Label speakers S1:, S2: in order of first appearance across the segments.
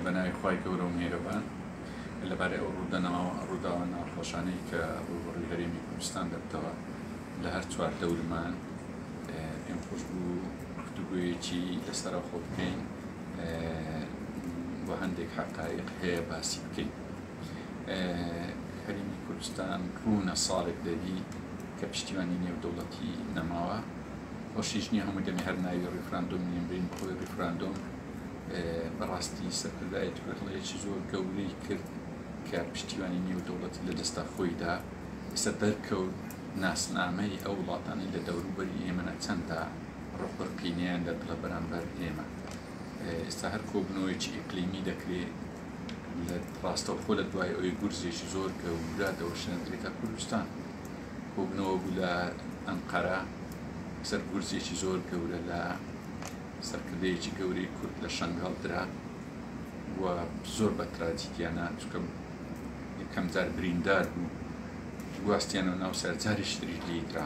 S1: بەناوی خی گەورە و میێرەبان لەبارەی ئەو ڕوودەنەوە ڕووداوە ناخۆشانەی کە ڕوبڕی هەرێمی کوردستان دەبتەوە لە هەر چوار دەورمان پێم خۆش بوو گفتوگویەکی لەسرە خۆ بکەین بۆ هەندێک حقایق هەیە باسی بکەین. هەرێمی کوردستان ڕوونە ساڵێک دەبیت کە پشتیوانی نێودەوڵەتی نەماوە خۆشیش نییە هەموو دەمی هەر ناوی ڕیفراندۆم نێنرین بەهۆی ڕیفراندۆم بەڕاستی سەرکردایەت کوردڵەیەکی زۆر گەورەی کرد کە پشتیوانی نێودەوڵەتی لە دەستا خۆیدا ئێستا دەرکەوت ناسنامەی ئەو وڵاتانی لە دەوروبەری ئێمەە چەندە ڕق و قینەیان لە دڵە بەرامبەر ئێمە ئێستا هەر کۆبنەوەیەکی ئیقلیمی دەکرێت ڕاستەوخۆ لە دوای ئەوی گورزێکی زۆر گەورە دەوەشێندرێتە کوردستان کۆبنەوە بوو لە ئەنقەرە سەر گورزێکی زۆر گەورە لە سەرکردەیەکی گەورەی کورد لە شنگال درا و زۆر بە تراجیدیانە چکە یەکەم جار بریندار بوو گواستیان و ناو سەرجاریش تریش لیدرا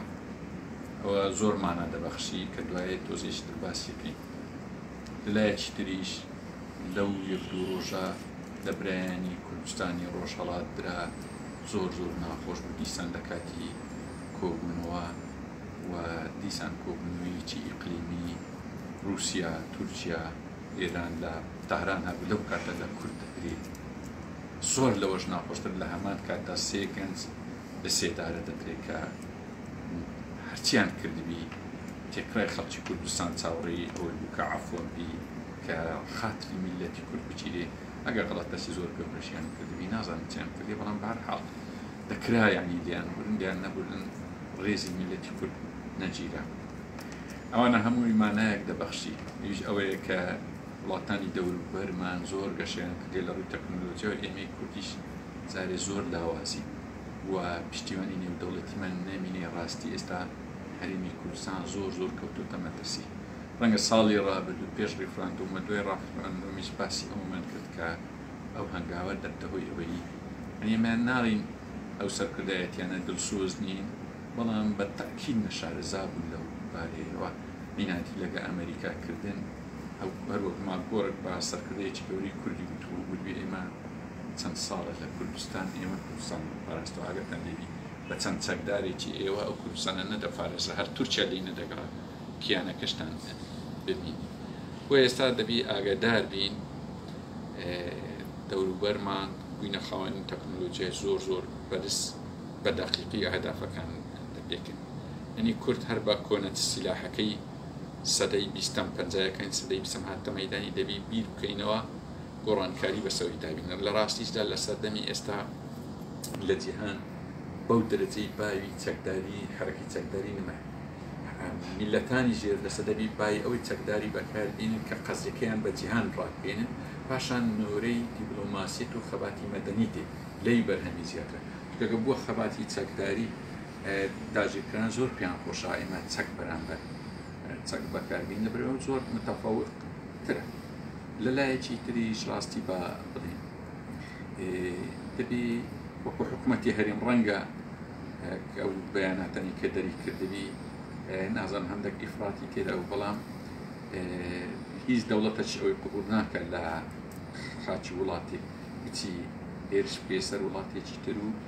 S1: ئەوە زۆرمانە دەبەخشی کە دوایە تۆزێشتر باسیەکەین لەلایەکی تریش لەو یەک دوو ڕۆژە لە برایانی کوردستانی ڕۆژهەڵات درا زۆر زۆر ناخۆش بوو دیسان لە کاتی کۆبوونەوە و دیسان کۆبوونەوەیەکی ئیقلیمی ڕووسیا، تورکیا، ئێران لە تاران هەبوو لەو کاتە لە کورد دەدرێ زۆر لەوەش ناخۆشتر لە هەمان کاتدا سێ گەنج بە سێدارە دەدرێت کە هەرچیان کردبی تێکرای خەڵکی کوردستان چاوەڕێی ئەوەی بوو کە عەفوم بی کە خاتری میللەتی کورد بگیرێ ئەگەر غەڵەتەسی زۆر گەورەشیان کردبی نازانم چیان کردی بەڵام بە هەر حاڵ دەکرا یعنی لیان برن لیان نەبرن ڕێزی میللەتی کورد نەگیرا ئەوانە هەمووی مانایەک دەبەخشی ئیش ئەوەیە کە وڵاتانی دەوروبەرمان زۆر گەشەیان کردوە لە ڕووی تەکنەلۆجیاو ئێمەی کوردیش جارێ زۆر لاوازین و پشتیوانی نێودەوڵەتیمان نەمینێ ڕاستی ئێستا هەرێمی کوردستان زۆر زۆر کەوتۆتە مەترسی ڕەنگە ساڵی ڕابردوو پێش ڕیفراندۆم و دوای ڕافراندۆمیش باسی ئەوەمان کرد کە ئەو هەنگاوە دەبتە هۆی ئەوەی یانی ئێمە ناڵین ئەو سەرکردایەتیانە دلسۆز نین بەڵام بە تەئکید نەشارەزا بوون لەو بارەیەوە میناتی لەگە ئەمەریکا کردن. هەروەک مام گۆرک بە سەرکردەیەکی گەورەی کوردی وتبوو گوربی ئێمە چەند ساڵە لە کوردستان ئێمە کوردستانمان دەپاراست و ئاگاتان لێبی بە چەند چەکدارێکی ئێوە ئەو کوردستانە نەدەپارێزا هەر تورکیا لێی نەدەگەڕا کیانەکەشتان ببینی بۆ ئێستا دەبی ئاگادار بین دەوروبەرمان بووینە خاوەنی تەکنۆلۆژیای زۆر زۆر بەرز بە دەقیقی ئەهدافەکان دەپێکن ئەنی کورد هەر بە کۆنە سیلاحەکەی سەدەی بیستەم پەنجایەکانی سەدەی بیستەم هاتە مەیدانی دەبی بیر بکەینەوە گۆڕانکاری بەسەوری دابینەر لە ڕاستیشدا لە سەردەمی ئێستا لە جیهان بەو دەرەجەی باوی چەکداری حەرەکەی چەکداری نمای میلەتانی ژێر دەسە دەبی بای ئەوەی چەکداری بەکار بینن کە قەزیەکەیان بە جیهان ڕاکبینن پاشان نۆرەی دیبلۆماسیەت و خەباتی مەدەنی دێ لەوی بەرهەمی زیاترە چونکە گە بووە خەباتی چەکداری تاجیکان زۆر پێیان خۆشە ئێمە چەک بەرامبەر چەک بەکاربین لە برەوە زۆر متەفەوت ترە لە لایەکی تریش ڕاستی بە بڵین دەبی وەکو حکوومەتتی هەرێم ڕەنگە ئەو بەیاناتەنی کە دەری کردبی نازان هەندێک ئیفراتی تێدا و بەڵام هیچ دەوڵەتەش ئەوەی قبول ناکە لە خاچی وڵاتی بچی هێرش پێسەر وڵاتێکی تر و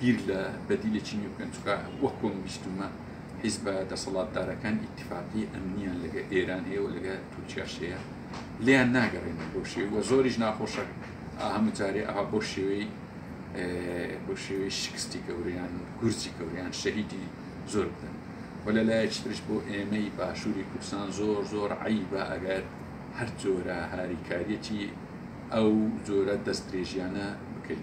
S1: بیر لە بەدیلێکی نوێ بکەن چونکە وەک کۆم بیستومە حیزبە دەسەڵاتدارەکان ئیتفاقی ئەمنیان لەگە ئێران هەیە و لەگە تورکیاش هەیە لیان ناگەڕێنە بۆ شێوی وە زۆریش ناخۆشە هەموو جارێ ئەها بۆ شێوەی بۆ شێوەی شکستی گەوریان گورجی گەوریان شەهیدی زۆر بدەن و لە لایەکترش بۆ ئێمەی باشووری کوردستان زۆر زۆر عیبە ئەگەر هەر جۆرە هاریکاریەتی ئەو جۆرە دەست درێژیانە بکەین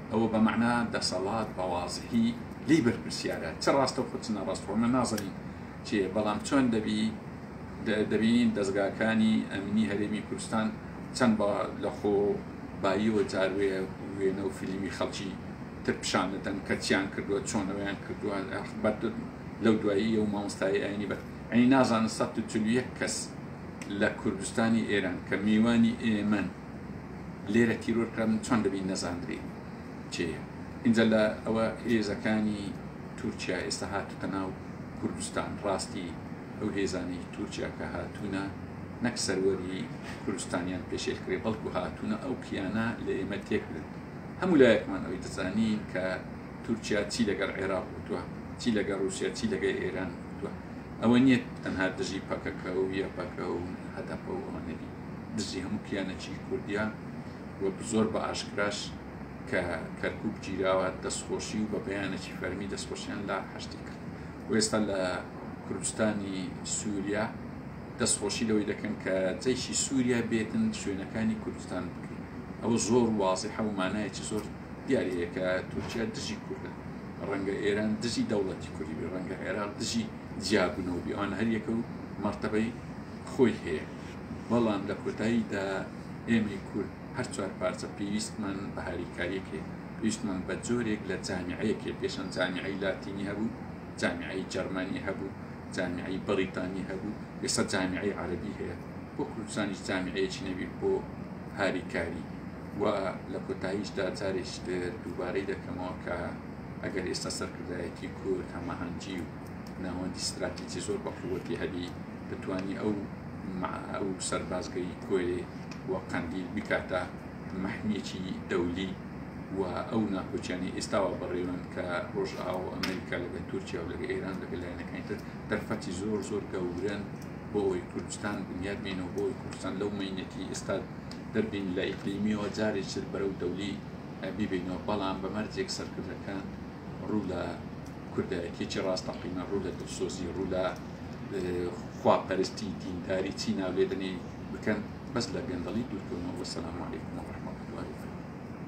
S1: ئەوە بە مەعنا دەسەڵات بە وازحی لی بەرپرسیارە چ ڕاستەوخۆ چ ناڕاست ڕۆمە نازەنین چێ بەڵام چۆن دەبی دەبینین دەستگاکانی ئەمنی هەرێمی کوردستان چەند بە لەخۆ باییەوە جاروێ وێنە و فیلمی خەڵکی تر پیشانەدەن کە چیان کردووە چۆنەوەیان کردووە بەر لەو دوایی ئەو مامۆستای ئاینی بەر ئەی نازانە 1 کەس لە کوردستانی ئێران کە میوانی ئێمەن لێرە تیرۆر کرا من چۆن دەبی نەزاندری چێە ئینجا لە ئەوە هێزەکانی تورکیا ئێستا هاتوتە ناو کوردستان ڕاستی ئەو هێزانی تورکیا کە هاتوونە نەک سەروەری کوردستانیان پێشێل کرێ بەڵکو هاتوونە ئەو کیانە لە ئێمە تێکرێت هەموو لایەکمان ئەوی دەزانی کە تورکیا چی لەگەڵ عێراق وتووە چی لەگەڵ رووسیا چی لەگە ئێران وتووە ئەوە نییە تەنها دژی پەکەکە و یە پەکە و هەدەپە و ئەوە نەبی دژی هەموو کیانەکی کوردیا و زۆر بە ئاشکراش کە کەرکک گیراوە دەستخۆشی و بە بەیانەکی فەرمی دەستخۆشیان لا هەشتی کرد و ئێستا لە کوردستانی سووریا دەستخۆشی لەوەی دەکەن کە جەیشی سووریا بێتن شوێنەکانی کوردستان بکرین ئەوە زۆر وازی حەومانایەکی زۆر دیارەیەکە تورکیا دژی کوردە ڕەنگە ئێران دژی دەوڵەتی کوردی ڕەنگە عێراق دژی جیابنەوەبییان هەریەکە و مرتبەی خۆی هەیە بەڵام لە کۆتاییدا ئێمەی کورد هەر چوار پارچە پێویستمان بە هاریکاریەک هەیە پێویستمان بە جۆرێک لە جامیعەیەک هەیە پێشەن جامیعی لاتینی هەبوو جامیعی جەرمانی هەبوو جامیعی بەریتانی هەبوو ئێستا جامیعی عەربی هەیە بۆ کوردستانیش جامیعەیەکی نەبی بۆ هاریکاری و لە کۆتاییشدا جارێکتر دووبارەی دەکەمەوە کە ئەگەر ئێستا سەرکردایەتی کورد هەماهەنگی و ناوەندی ستراتیجی زۆر بە قووەتی هەبی بتانی ئەو ئەو سەربازگەی کۆێ و قەندیل بکاتە مەحمیەکی دەولی و ئەو ناکۆچیانی ئێستاوە بەڕێوەن کە ڕۆژ ئاو ئەمریکا لەگە تورکیا و لەگە ئێران لەگە لایەنەکانی تر دەرفەتی زۆر زۆر گەورن بۆ ئەوەی کوردستان بنیاد بینەوە بۆی کوردستان لەو مینەتی ئێستا دەربین لە ئیقلیمیەوە جارێک بەرەو دەولی بیبینەوە بەڵام بەمەرجێک سەرکردەکان ڕوو لە کوردایەتیەکی ڕاستەقینە ڕوو لە دڵسۆزی ڕوو لە خواپەرستی دینداری چی ناولێدنی بکەن بەس لە گەندەڵی دوورکەونەوە وەسەلام علیکم و ڕەحمەتوڵڵاهی وبەرەکاتوو.